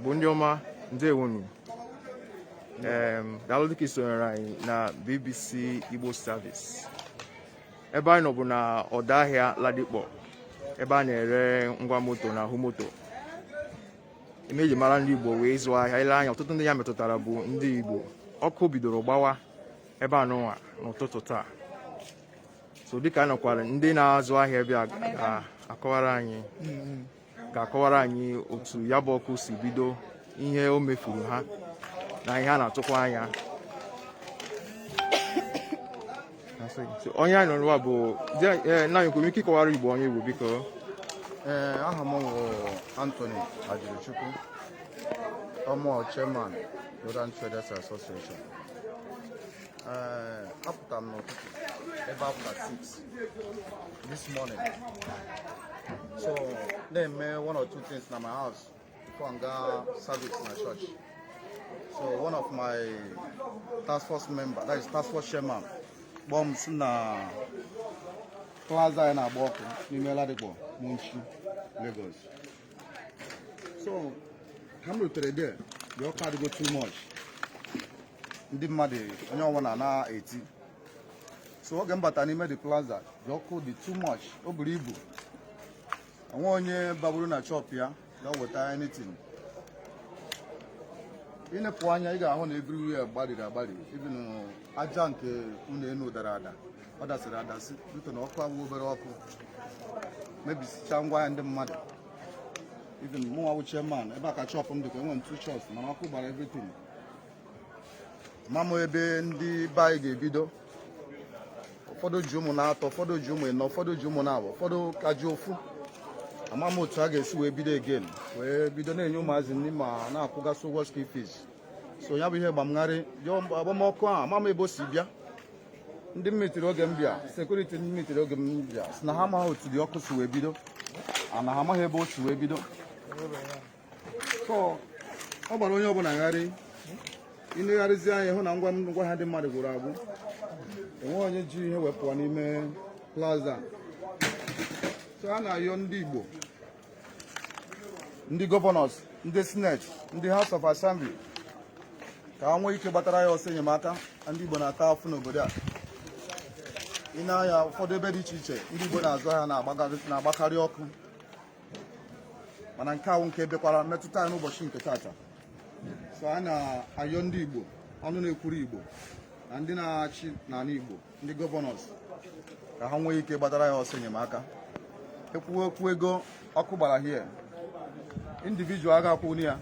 bụ ndị ọma ndewonu daalụ dịka i sonyere anyị na BBC Igbo Service ebe anyị nọ bụ na ọdọ ahịa Ladipo ebe a na-ere ngwa moto na ahụ moto ihe e ji mara ndị Igbo wụ ịzụ ahịa i lee anya ọtụtụ ndị ya metụtara bụ ndị Igbo ọkụ bidoro gbawa ebe a nụnwa n'ụtụtụ taa so dịka anyị nọkwara ndị na-azụ ahịa ebe a ga-akọwara anyị ga-akọwara anyị otu ya bụ ọkụ si bido ihe o mefuru ha na ihe a na-atụkwa anya onye anyị nọrọ bụ nna anyị i nwere ike ịkọwara Igbo onye ị bụ biko ee aha m bụ Anthony Ajirichukwu ọ mụ chairman Rodan Traders Association apụtara m n'ụtụtụ ebe after 6 this morning so na-eme one or two things na my house Ka m gaa service na church. So one of my task force member, that is task force chairman, kpọọ m sị na plaza anyị na-agba ọkụ n'ime Ladipo, Mushin, Lagos. So ka m rutere there, the ọkụ adịgo too much. Ndị mmadụ onye ọbụla na-eti. So oge m bata n'ime the plaza, the ọkụ dị too much, o buru ibu. o nweghị onye baburu na shop ya ga weta anything ị nepụ anya ị ga-ahụ na everywhere gbariri agbari even aja nke ụnọ enu dara ada ọ dasịrị adasị dịka na ọkụ abụghị obere ọkụ mebisicha ngwa ahịa ndị mmadụ even mụnwa wụ chairman ebe a ka shop m dịkwa enwere m two shops mana ọkụ gbara everything ama m ebe ndị be anyị ga-ebido ụfọdụ ji ụmụ naatọ ụfọdụ ji ụmụ ịnọ ụfọdụ ji ụmụ naabọ ụfọdụ ka ji ofu ama m otu a ga-esi wee bido again wee bido na-enye ụmụazị nri ma na-akwụgasị ụgwọ school fees so ya bụ ihe gba m gharị agba m ọkụ ahụ ama m ebe o si bịa ndị m meetiri oge m bịa security ndị m meetiri oge m bịa sị na ha amaghị otu the ọkụ si wee bido na ha amaghị ebe o si wee bido ọ gbara onye ọbụla gharị ị negharịzi anya hụ na ngwa ahịa ndị mmadụ gwụrụ agwụ enweghị onye ji ihe wepụ n'ime plaza so a na-ayọ ndị Igbo ndị governors ndị Senate ndị House of Assembly ka ha nwee ike gbatara anyị ọsọ enyemaka ndị Igbo na-ata afụfụ n'obodo a ị nee anya ụfọdụ ebe dị iche iche ndị Igbo na-azụ ahịa na-agbakarị ọkụ mana nke ahụ nke bịakwara metụta anyị n'ụbọchị nke tata so anyị na-ayọ ndị Igbo ọnụ na-ekwuru Igbo na ndị na-achị n'ala Igbo ndị governors ka ha nwee ike gbatara anyị ọsọ enyemaka ekwuwe okwu ego ọkụ gbara here individual aga akwụni ya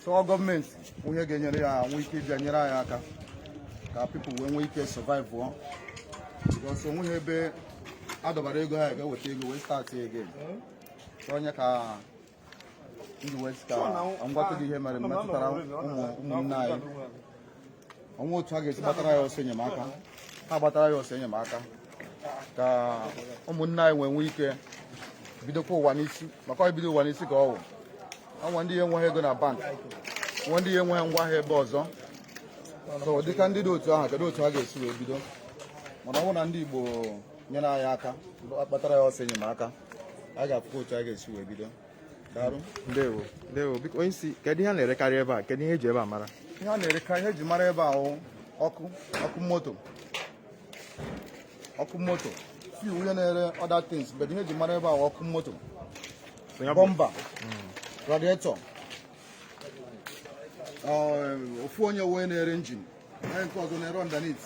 so government nwee ihe ga-enyere anyị nwee ike ịbịa nyere anyị aka ka people wee nwee ike survive ọ because onweghị ebe adọbara ego ha ga-eweta ego wee start again ọ ya ka m ji wee sị ka m gwa gị ihe mere metụtara ụmụnne anyị o nwee otu ha ga-esi gbatara anyị ọsọ enyemaka ha gbatara anyị ọsọ enyemaka ka ụmụnne anyị wee nwee ike bidokwa ụwa n'isi maka ibido ụwa n'isi ka ọ wụ o nwee ndị na-enweghị ego na bank nwee ndị na-enweghị ngwa ahịa ebe ọzọ so dịka ndị dị otu ahụ kedu otu ha ga-esi wee bido mana ọ bụrụ na ndị Igbo nyere anyị aka gbatara anyị ọsọ enyemaka a ga-afụkwa otu a ga-esi wee bido daalụ ndewo ndewo biko onye isi kedu ihe a na-erekarị ebe a kedu ihe eji ebe a mara ihe a na-erekarị ihe eji mara ebe a wụ ọkụ moto ọkụ moto few onye na-ere other things but ihe eji mara ebe a ọkụ moto bumper radiator um, ofu onye wee na-ere engine onye nke ọzọ na-ere underneath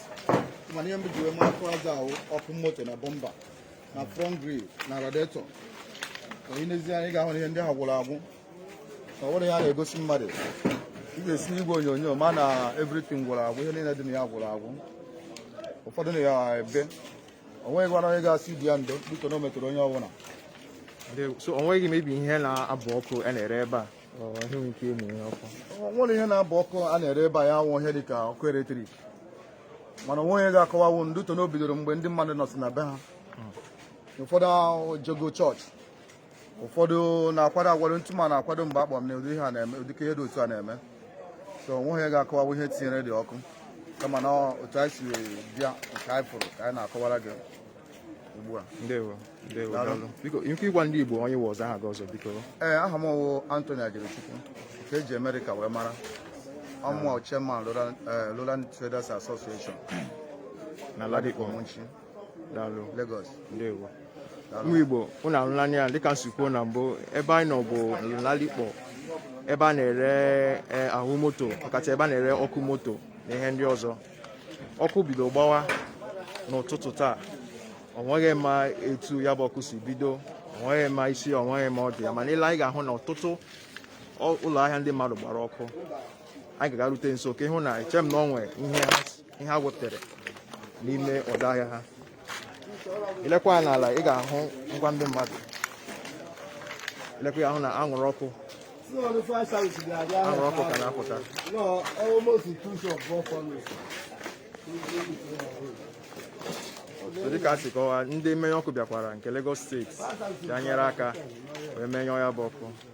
mana ihe mbụ eji wee mara plaza a wụ ọkụ moto na bumper na front grill na radiator onye nezie anya ga-ahụ na ihe ndị a gwụrụ agwụ na ọ wụrọ ihe a na-egosi mmadụ ị ga-esi n'igwe onyonyo ma na everything gwụrụ agwụ ihe niile dị na ya gwụrụ agwụ ụfọdụ na ya ebe o nweghịkwara onye ga-asị ibe ya ndo due to na o metụrụ onye ọbụla so o nweghị maybe ihe na-abụ ọkụ a na-ere ebe a nwere ihe na-abụ ọkụ a na-ere ebe a ya wụ ihe dịka ọkụ electric mana o nweghị onye ga-akọwawu due to na o bidoro mgbe ndị mmadụ nọsị na be ha hmm. ụfọdụ jego church ụfọdụ na-akwado akwado ntụ ma na-akwado mgbe a kpọ m na ụdị ihe a na-eme ụdị ka ihe dị otu a na-eme so onweghị onye ga-akọwawu ihe tinyere the ọkụ kama na otu anyị si bịa nke anyị fụrụ ka anyị na-akọwara gị ugbu a ndewo ndewo daalụ biko ike ịgwa ndị Igbo onye ị wụ ọzọ aha gị ọzọ biko ee aha m wụ Anthony Ajirichukwu nke eji Amerịka wee mara ọ mụwa chairman Lowland Traders Association na Ladipo Mushin daalụ Lagos ndewo ụmụ Igbo ụnụ ahụla n'anya dịka m si kwuo na mbụ ebe anyị nọ bụ Ladipo ebe a na-ere e, ahụ moto ọkacha ebe a na-ere ọkụ moto na ihe ndị ọzọ ọkụ bido gbawa n'ụtụtụ taa ọ nweghị ma etu ya bụ ọkụ si bido ọ nweghị ma isi ọ nweghị ma ọdụ ya mana i lee anya ị ga-ahụ na ọtụtụ ụlọ ahịa ndị mmadụ gbara ọkụ anyị ga-agarute nso ka ị hụ na eche m na ọ nwee ihe ha ihe ha wepụtara n'ime ọdọ ahịa ha i lekwa anya n'ala ị ga-ahụ ngwa ndị mmadụ i lekwa anya hụ na anwụrụ ọkụ anwụrụ ọkụ ka na-apụta so dịka a si kọwaa ndị mmenyụ ọkụ bịakwara nke Lagos steeti bịa nyere aka wee menyụọ ya bụ ọkụ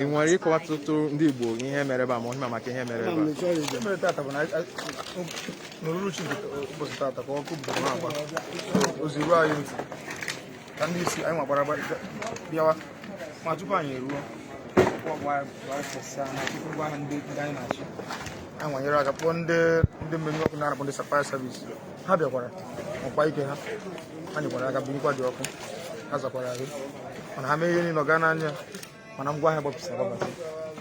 ị nwere ịkọwatụrụ ndị Igbo ihe mere ebe a ma ọ ihe ị ma maka ihe mere ebe a ihe mere tata bụ na n'uruchi ụbọchị tata ka ọkụ bidoro na-agba ozi ruo anyị ntị ka ndị isi anyị nwa gbara bịawa ma tupu anyị eruo ndị na-achị anyị nwa nyere aka kpọọ ndị mmenyụ ọkụ a na-akpọ ndị fire service ha bịakwara ọkwa ike ha ha nyekwara aka menyụkwa the ọkụ ha zakwara ahụ mana ha mee ihe niile ọ gaa n'anya mana ngwa ahịa gbapụsịrị agbapụsị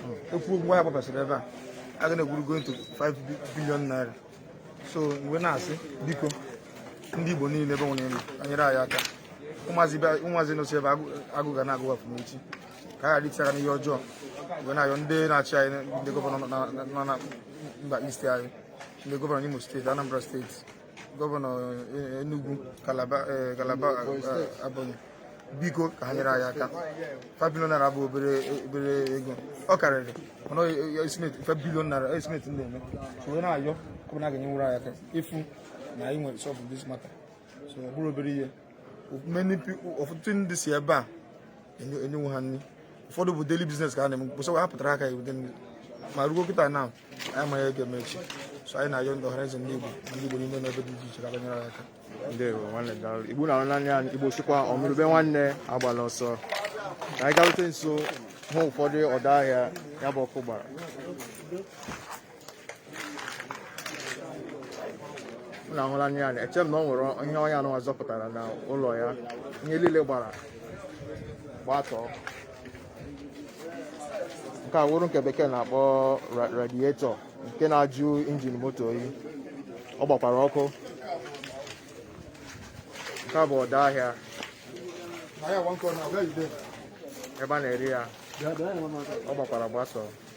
hmm. e kwuo ngwa ahịa gbapụsịrị ebe a a ga na-ekwuru going to 5 billion naira so m wee na-asị biko ndị Igbo niile ebe nwere elu anyere anyị aka ụmụazị nọsị ebe a agụụ ga na-agụ afọ n'echi ka a ghara iti aka n'ihe ọjọọ m wee na-ayọ ndị na-achị anyị ndị gọvanọ nọ na mba East anyị ndị gọvanọ Imo steeti Anambra steeti gọvanọ eh, Enugu Calabar eh, eh, Ebonyi biko ka ha nyere anyị aka 5 billion naira bụ obere obere ego ọ karịrị mana estimate 5 billion naira estimate ndị eme so anyị na-ayọ ọ bụ na a ga-enyenwuru anyị aka ịfụ na anyị nwere solve this matter so ọ bụrọ obere ihe many people ọtụtụ ndị si ebe a enyenwu ha nri ụfọdụ bụ daily business ka ha na-eme mkpụsa ha pụtara aka ewute nri ma ruo kịta na anyị amaghị ihe a ga-eme echi so anyị na-ayọ ndị Ọhanaeze ndị Igbo ndị Igbo niile n'ebe dị iche iche ka bịa nyere anyị aka ndewo nwanne daalụ igbo na naanị anyị igbo sikwa onụrụ ube nwanne agbala ọsọ ka anyị garute nso hụ ụfọdụ ọdọ ahịa ya bụ ọkụ gbara na ahụla anya ya eche m na ọ nwere ihe onye a nụnwa zọpụtara na ụlọ ya ihe niile gbara gbatọọ nke a wụrụ nke bekee na-akpọ radiator nke na-ajụ injin moto oyi ọ gbakwara ọkụ nke a bụ ọdọ ahịa ebe a na-ere ya ọ gbakwara gbatọọ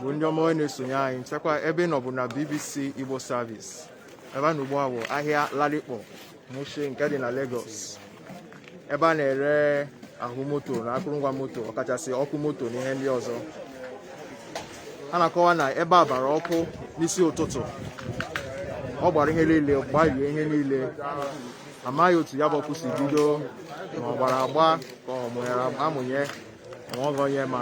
bụ ndị ọma anyị na-esonye anyị chekwa ebe ị nọ bụ na BBC Igbo Service ebe a nọ ugbu a bụ ahịa Ladipo Mushin nke dị na Lagos ebe a na-ere ahụ moto na akụrụngwa moto ọkachasị ọkụ moto na ihe ndị ọzọ a na-akọwa na ebe a gbara ọkụ n'isi ụtụtụ ọ gbara ihe niile gbarie ihe niile amaghị otu ya bụ ọkụ si bido ma ọ gbara agba ka a mụnyere amụnye Ma ọ ga onye ma.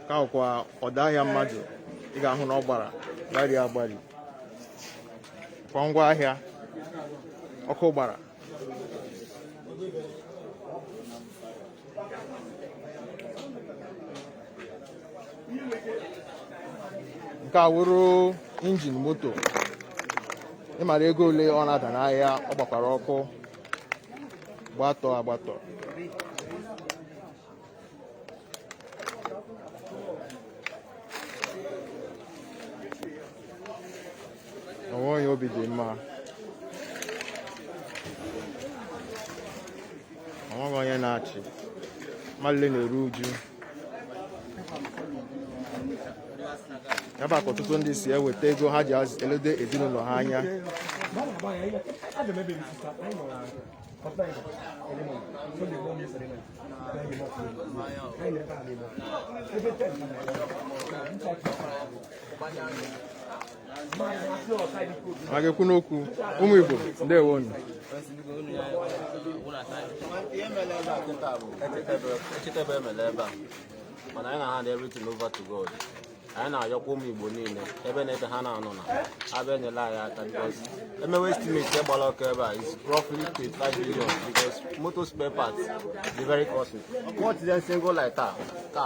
ka ọkwa ọdọ ahịa mmadụ ị ga-ahụ na ọ gbara gbarie agbari kwa ngwa ahịa ọkụ gbara nke a wụrụ injin moto ị mara ego ole ọ na-ada n'ahịa ọ gbakwara ọkụ gbatọ agbatọ onweghị onye obi dị mma onweghị onye na-achị mmadụ niile na-eru uju ebe a ka ọtụtụ ndị si eweta ego ha ji eledo ezinụlọ ha anya a ga-ekwu n'okwu ụmụ Igbo ndewo nụ echitebe emele ebe a mana anyị na-hand everything over to God anyị na-ayọkwa ụmụ Igbo niile ebe na ebe ha na-anọ na abịa enyela anyị aka because emewe estimate gbara ọkụ ebe a is roughly 25 billion because motor spare parts dị very costly what is single light a ka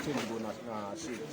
change go na street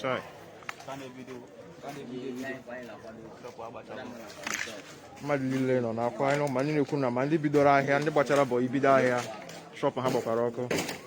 Chai. mmadụ niile nọ n'akwa anyị ma ndị na-ekwu na ma ndị bidoro ahịa ndị gbachara bọị bido ahịa shop ha gbakwara ọkụ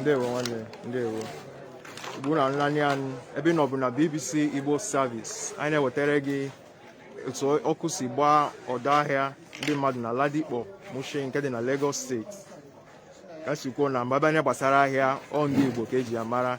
ndewo nwanne ndewo ugbu a ị na-ele anyị ebe ị nọ bụ na bbc igbo service anyị na-ewetara gị otu ọkụ si gbaa ọdọ ahịa ndị mmadụ na ladipo mushin nke dị na lagos steeti ka e si kwuo na mgbe a bịa n'ihe gbasara ahịa ọ ndị igbo ka e ji ya mara